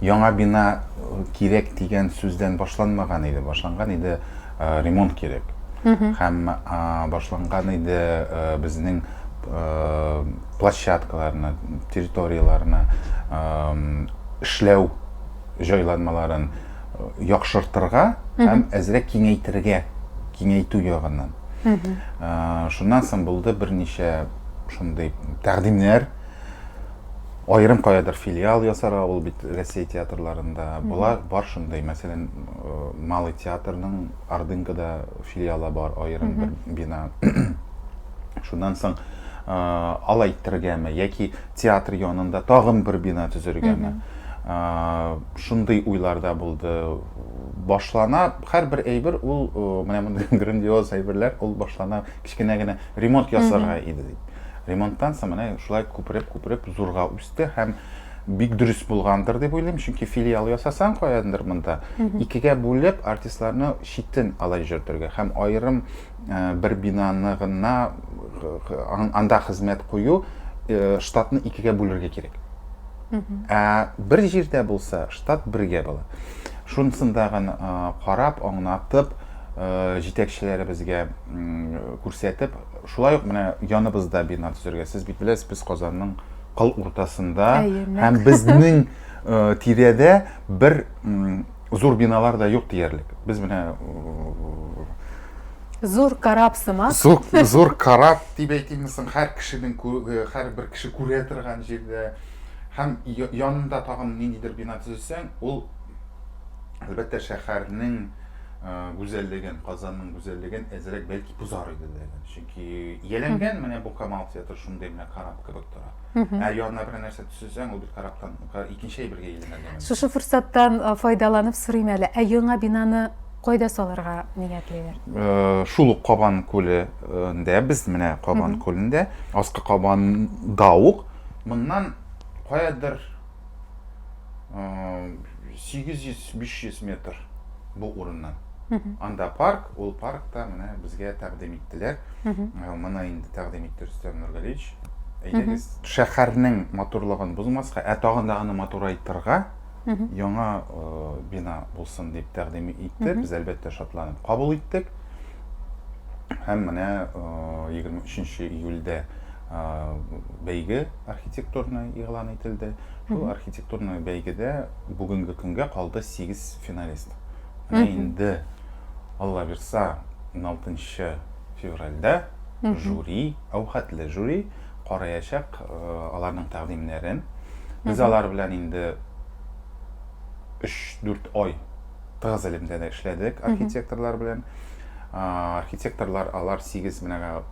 Яңа бина кирәк дигән сүздән башланмаган иде, башланган иде ремонт кирәк. Һәм башланган иде безнең площадкаларны, территорияләрне эшләү җайланмаларын яхшыртырга һәм әзрәк киңәйтергә, киңәйтү ягыннан. Шуннан соң булды берничә шундый тәкъдимнәр, Аерым каядыр филиал ясарга ул бит Россия театрларында. Болар бар шундый. Мәсәлән, э, Малый театрның Ордынкада филиалы бар, аерым бер бина. Шуннан соң э, алай иттергәме яки театр янында тагын бер бина төзергәме? Э, Шундый уйлар да булды. Башлана һәрбер әйбер ул э, менә мондый грандиоз әйберләр ул башлана Кечкенә генә ремонт ясарга иде дип. Ремонттан соң менә шулай күпереп-күпереп зурга үсте һәм бик дөрес булгандыр дип уйлыйм, чөнки филиал ясасаң каяндыр монда икегә бүлеп артистларны читен алай җөртергә һәм аерым бер бинаны гына анда хезмәт кую штатны икегә бүлергә кирәк. Ә бер җирдә булса штат бергә була. Шунсында гына карап, аңнатып, җитәкчеләребезгә күрсәтеп, шулай ук менә яныбызда бина төзергә. Сез бит беләсез, без Казанның кыл уртасында һәм безнең тирәдә бер зур биналар да юк диярлек. Без менә Зур карап сымак. Зур, зур карап дип әйтимме соң, һәр кешенең һәрбер кеше күрә торган җирдә һәм янында тагын ниндидер бина төзесәң, ул әлбәттә шәһәрнең гүзәллеген, Казанның гүзәллеген әзрәк бәлки бозар иде дә. Чөнки ияләнгән менә бу Камал театры шундый менә карап кебек тора. Ә янына бер нәрсә төшерсәң, ул бит караптан икенче әйбергә әйләнә. Шушы форсаттан файдаланып сорыйм әле, ә яңа бинаны кайда салырга ниятлиләр? Шул ук Кабан күлендә, без менә Кабан күлендә, Аскы Кабанда ук, моннан каядыр сигез йөз биш йөз метр бу урыннан анда парк ул паркта менә безгә тәкъдим иттеләр моны инде тәкъдим итте рөстәм нургалиевич әйдәгез шәһәрнең матурлыгын бозмаска ә тагын да аны матурайтырга яңа бина булсын дип тәкъдим итте без әлбәттә шатланып кабул иттек һәм менә егерме өченче июльдә бәйге архитектурный игълан ителде. Шул архитектурный бәйгедә бүгенге көнгә калды 8 финалист. Менә инде Алла бирса 16 февральдә жюри, әүхәтле жюри караячак аларның тәкъдимнәрен. Без алар белән инде 3-4 ай тыгыз элемтәдә эшләдек архитекторлар белән. Архитекторлар алар 8 менә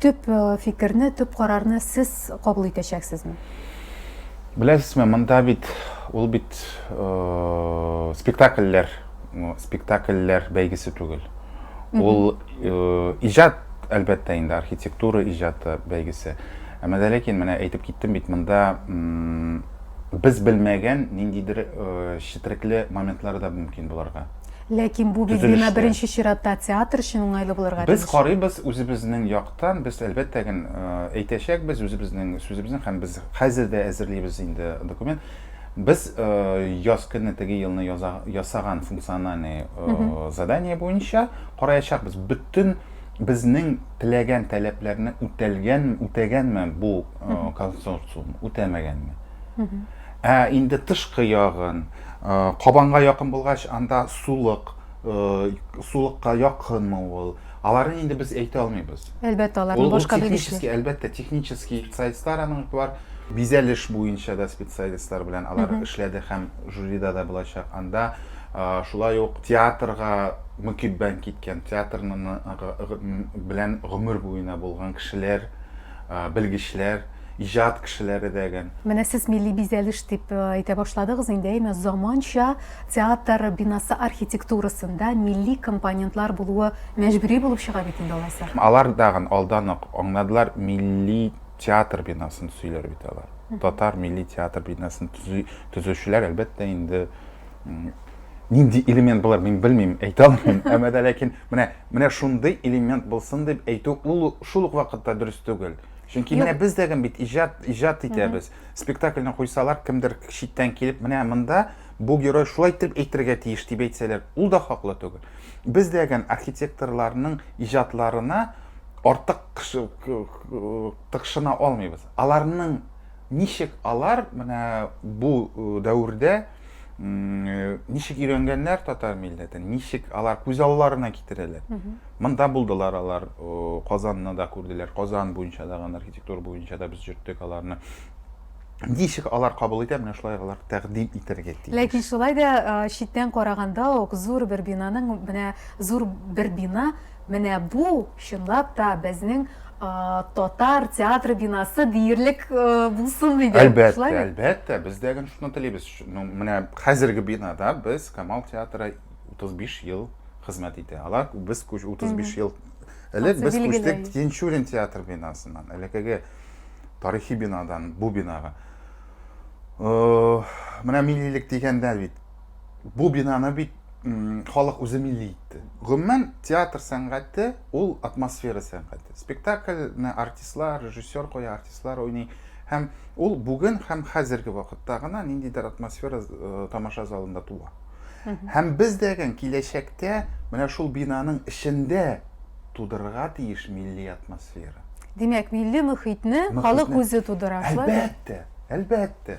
Төп фикерне, төп карарны сез кабул итәчәксезме? Беләсезме, монда бит ул бит спектакльләр, спектакльләр бәйгесе түгел. Ул иҗат, әлбәттә инде, архитектура иҗаты бәйгесе. Әмма дә ләкин менә әйтеп киттем бит, монда без белмәгән ниндидер четерекле моментлар да мөмкин булырга. Ләкин бу бит бина беренче чиратта театр өчен уңайлы булырга тиеш. Без карыйбыз үзебезнең яктан, без әлбәттә ген әйтәчәкбез үзебезнең сүзебезне һәм без хәзер дә әзерлибез инде документ. Без яз көнне теге елны ясаган функциональный задание буенча караячакбыз, бөтен безнең теләгән таләпләрне үтәлгән, үтәгәнме бу консорциум, үтәмәгәнме. Ә инде тышкы ягын, кабанга якын булгач, анда сулык, сулыкка якынмы ул? Аларын инде без әйтә алмыйбыз. Әлбәттә, аларның башка белгечләре. Технический, әлбәттә, технический специалистлар аның бар. Бизәлеш буенча да специалистлар белән алар эшләде һәм жюрида да булачак. Анда шулай ук театрга мөкиббән киткән, театрның белән гомер буена булган кешеләр белгечләр, иҗат кешеләре дә гән. Менә сез милли бизәлеш дип әйтә башладыгыз инде, әйме, заманча театр бинасы архитектурасында милли компонентлар булуы мәҗбүри булып чыга бит инде алайса? Алар тагын алдан ук аңладылар, милли театр бинасын төзиләр бит алар. Татар милли театр бинасын төзи, төзүчеләр, әлбәттә, инде нинди элемент болар мин белмим әйтә алмыйм әмма дә ләкин менә менә шундый элемент булсын дип әйтү ул шул ук вакытта дөрес түгел чөнки менә без дә бит иҗат иҗат итәбез спектакльне куйсалар кемдер читтән килеп менә монда бу герой шулай итеп әйтергә тиеш дип әйтсәләр ул да хаклы түгел без дә архитекторларның иҗатларына артык тыкшына алмыйбыз аларның Ничек алар менә бу дәвердә ничек өйрәнгәннәр татар милләтен, ничек алар күз алларына китерәләр. Монда булдылар алар, Казанны да күрделәр, Казан буенча да, архитектура буенча да без йөрттек аларны. Ничек алар кабул итә, менә шулай алар тәкъдим итәргә тиеш. Ләкин шулай да читтән караганда ук зур бер бинаның, менә зур бер бина, Менә бу, чынлап та, безнең татар театры бинасы диярлек булсын иде. Әлбәттә, әлбәттә, без дә гел шуны телибез. Ну, менә хәзерге бинада без Камал театры 35 ел хезмәт итә. Алар без 35 ел элек без күчтек Тинчурин театр бинасыннан, элекеге тарихи бинадан бу бинага. Э, менә миллилек дигәндә бит Бу бинаны бит халык үзе милли итте. Гомумән, театр сәнгате ул атмосфера сәнгате. Спектакльне артистлар, режиссер куя, артистлар уйный. Һәм ул бүген һәм хәзерге вакытта гына ниндидер атмосфера э, тамаша залында туа. Һәм без дәген киләчәктә менә шул бинаның эчендә тудырырга тиеш милли атмосфера. Димәк, милли мөхитне халык үзе тудыра, шулай Әлбәттә, әлбәттә.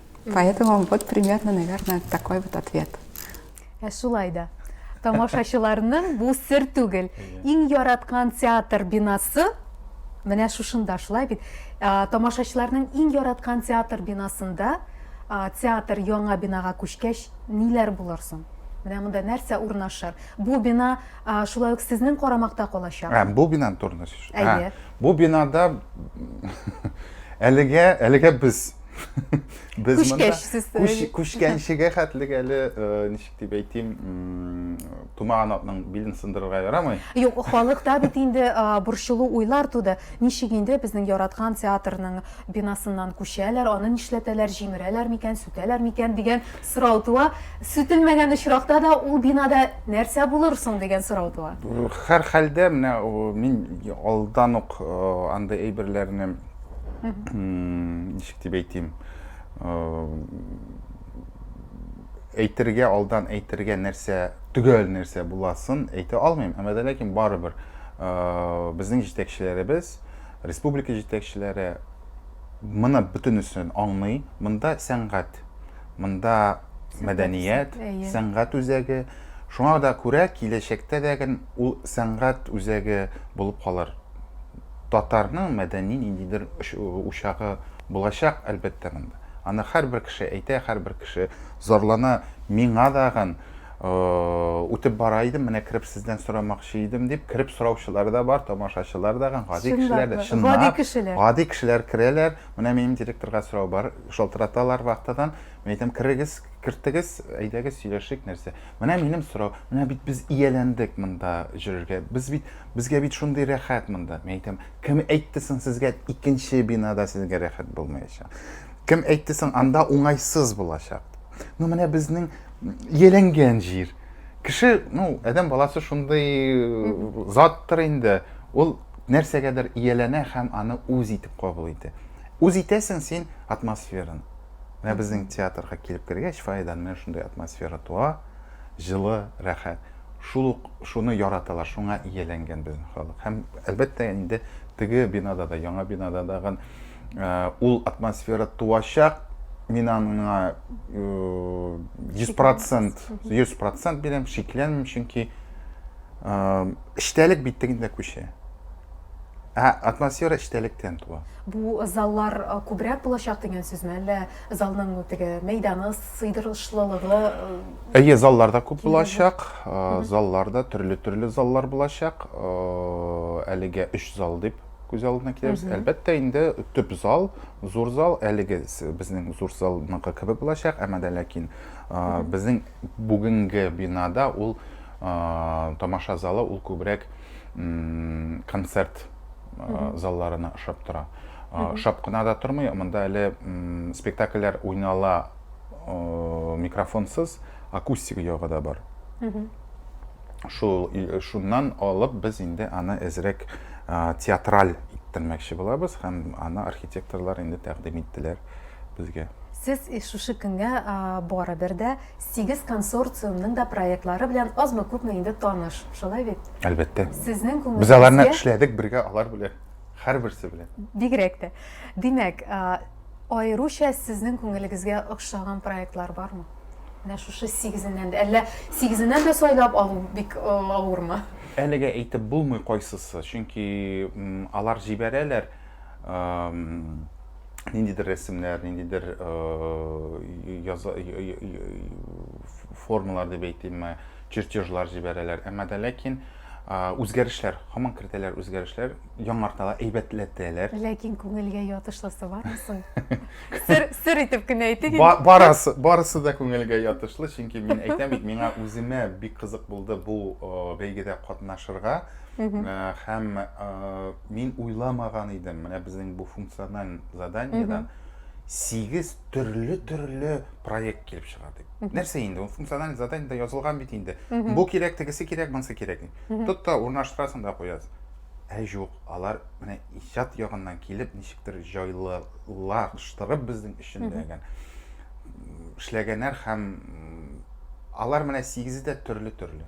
Поэтому вот примерно, наверное, такой вот ответ. Ә шулай да. Тамашачыларның бу сер түгел. Иң яраткан театр бинасы менә шушында шулай бит. Тамашачыларның иң яраткан театр бинасында театр яңа бинага күчкәч ниләр булыр соң? Менә монда нәрсә урнашыр? Бу бина шулай ук сезнең карамакта калачак. Ә, бу бинаны турында сүз. Әйе. Бу бинада әлегә, әлегә без без монда күчкәнчегә хәтлек әле э, ничек дип әйтим тумаган атның билен сындырырга ярамый юк халыкта бит инде э, борчылу уйлар туды ничек инде безнең яраткан театрның бинасыннан күчәләр аны нишләтәләр җимерәләр микән сүтәләр микән дигән сорау туа сүтелмәгән очракта да ул бинада нәрсә булыр соң дигән сорау туа һәрхәлдә менә мин алдан ук э, андый әйберләрне ничек дип әйтим әйтергә алдан әйтергә нәрсә төгәл нәрсә буласын әйтә алмыйм әмма дә ләкин барыбер безнең җитәкчеләребез республика җитәкчеләре моны бөтенесен аңлый монда сәнгать монда мәдәният сәнгать үзәге шуңа да күрә киләчәктә дә ул сәнгать үзәге булып калыр Татарның мәдәни ниндидер учагы булачак, әлбәттә, монда. Аны һәрбер кеше әйтә, һәрбер кеше зарлана. Миңа дагын үтеп бара идем, менә кереп сездән сорамакчы идем дип, кереп сораучылар да бар, тамашачылар дагын, гади кешеләр дә. Гади кешеләр. Гади кешеләр керәләр, менә минем директорга сорау бар, шалтыраталар вахтадан. Мин әйтәм, керегез, кертегез, әйдәгез, сөйләшик, нәрсә. Менә минем сорау, менә бит без ияләндек монда җөрергә, без бит, безгә бит шундый рәхәт монда. Мин әйтәм, кем әйтте соң сезгә икенче бинада сезгә рәхәт булмаячак? Кем әйтте соң анда уңайсыз булачак? Ну менә безнең ияләнгән җир. Кеше, ну, әдәм баласы шундый э, заттыр инде. Ул нәрсәгәдер ияләнә һәм аны үз итеп кабул итә. Үз итәсең син атмосфераны. Менә безнең театрга килеп кергәч, фойедан менә шундый атмосфера туа, җылы, рәхәт. Шул ук шуны яраталар, шуңа ияләнгән безнең халык. Һәм, әлбәттә, инде теге бинада да, яңа бинада да гын, э, ул атмосфера туачак. Мин аңа э, 100%, 100% бирәм, шикләнмим, чөнки э, эчтәлек бит тегендә күчә. Ә атмосфера эчтәлектән туа. Бу заллар э, күбрәк булачак дигән сүзме, әллә залның теге мәйданы, сыйдырышлылыгы? Э, Әйе, заллар да күп булачак. Э, заллар да төрле-төрле заллар булачак. Әлегә 3 зал дип күз алдына китерәбез. Әлбәттә, инде төп зал, зур зал, әлеге безнең зур залныкы кебек булачак, әмма дә ләкин безнең бүгенге бинада ул тамаша залы ул күбрәк концерт залларына ошап тора. Ошап кына да тормый, монда әле спектакльләр уйнала микрофонсыз, акустик ягы да бар. Шул шуннан алып без инде аны әзрәк театраль иттермәкче булабыз һәм аны архитекторлар инде тәкъдим иттеләр безгә. Сез шушы көнгә барыбер дә Сигез консорциумның да проектлары белән азмы-күпме инде таныш, шулай бит? Әлбәттә. Сезнең күңелегезгә... Без аларны эшләдек бергә, алар белән, һәрберсе белән. Бигрәк тә. Димәк, аеруча сезнең күңелегезгә охшаган проектлар бармы? Менә шушы сигезеннән дә, әллә сигезеннән дә сайлап алу бик авырмы? Әлегә әйтеп булмый кайсысы, чөнки алар җибәрәләр, ниндидер рәсемнәр, ниндидер формалар дип әйтимме, чертежлар җибәрәләр. Әмма дә ләкин үзгәрешләр, һаман кертәләр үзгәрешләр, яңарталар, әйбәтләтәләр. Ләкин күңелгә ятышлысы бармы соң? Сер, сер итеп кенә әйтик. Ба барысы, барысы да күңелгә ятышлы, чөнки мин әйтәм бит, миңа үземә бик кызык булды бу бәйгедә катнашырга. Һәм мин уйламаган идем, менә безнең бу функциональ заданиедан сигез төрле-төрле проект килеп чыга дип. Нәрсә инде, ул функциональ заданиеда язылган бит инде. Бу кирәк, тегесе кирәк, монысы кирәк. Тот та урнаштырасың да куясың. Ә юк, алар менә иҗат ягыннан килеп, ничектер җайлылаштырып безнең өчен дә эшләгәннәр һәм алар менә сигезе дә төрле-төрле.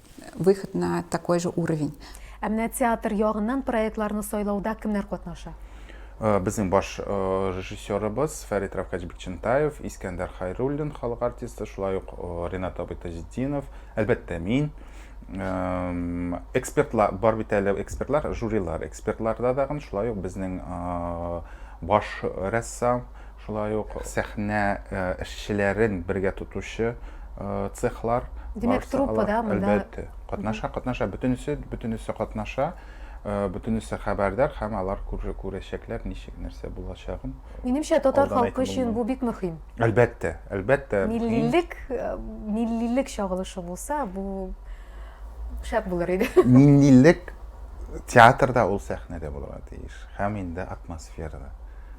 выход на такой же уровень. Ә менә театр ягыннан проектларны сайлауда кемнәр катнаша? Э, Безнең баш э, режиссерыбыз Фәрит Равкач Бикчентаев, Искәндәр Хайруллин, халык артисты, шулай ук э, Ренат абый Таҗетдинов, әлбәттә мин. Эм, Экспертлар, бар бит әле экспертлар, жюрилар. Экспертларда дагын шулай ук безнең э, баш рәссам Шулай ук сәхнә эшчеләрен бергә тотучы цехлар. Димәк, труппа да монда? Әлбәттә, катнаша, катнаша. Бөтенесе, бөтенесе катнаша, бөтенесе хәбәрдар һәм алар күрәчәкләр, ничек, нәрсә булачагын. Минемчә, татар халкы өчен бу бик мөһим. Әлбәттә, әлбәттә. Миллилек, миллилек чагылышы булса, бу шәп булыр иде. Миллилек театрда ул сәхнәдә булырга тиеш һәм инде атмосферада.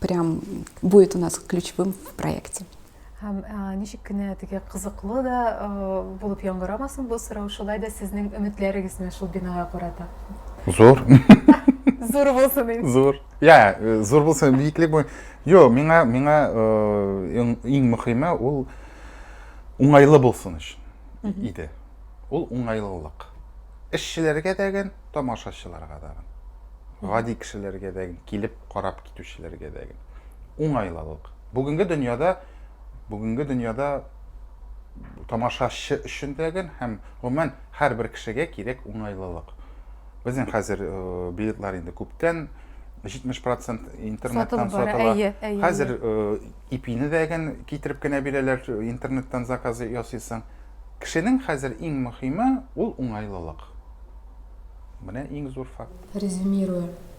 прям будет у нас ключевым в проекте. Һәм ә, ничек кенә теге кызыклы да ә, булып яңгырамасын бу сорау, шулай да сезнең өметләрегез менә шул бинага карата. Зур. Зур булсын инде. Зур. Я, э, зур булсын биеклек бу. Йо, миңа миңа э, иң мөхиме ул уңайлы булсын өчен иде. Ул уңайлылык. Эшчеләргә дәген, тамашачыларга дәген. Гади кешеләргә дәген килеп карап китүчеләргә дә гел уңайлылык. Бүгенге дөньяда бүгенге дөньяда тамашачы өчен дә гел һәм гомумән һәрбер кешегә кирәк уңайлылык. Безнең хәзер э, билетлар инде күптән 70% интернеттан сатыла. Хәзер ипине э, дәген китереп кенә бирәләр, э, интернеттан заказы ясыйсың. Кешенең хәзер иң мөһиме ул уңайлылык. Менә иң зур факт. Резюмируя,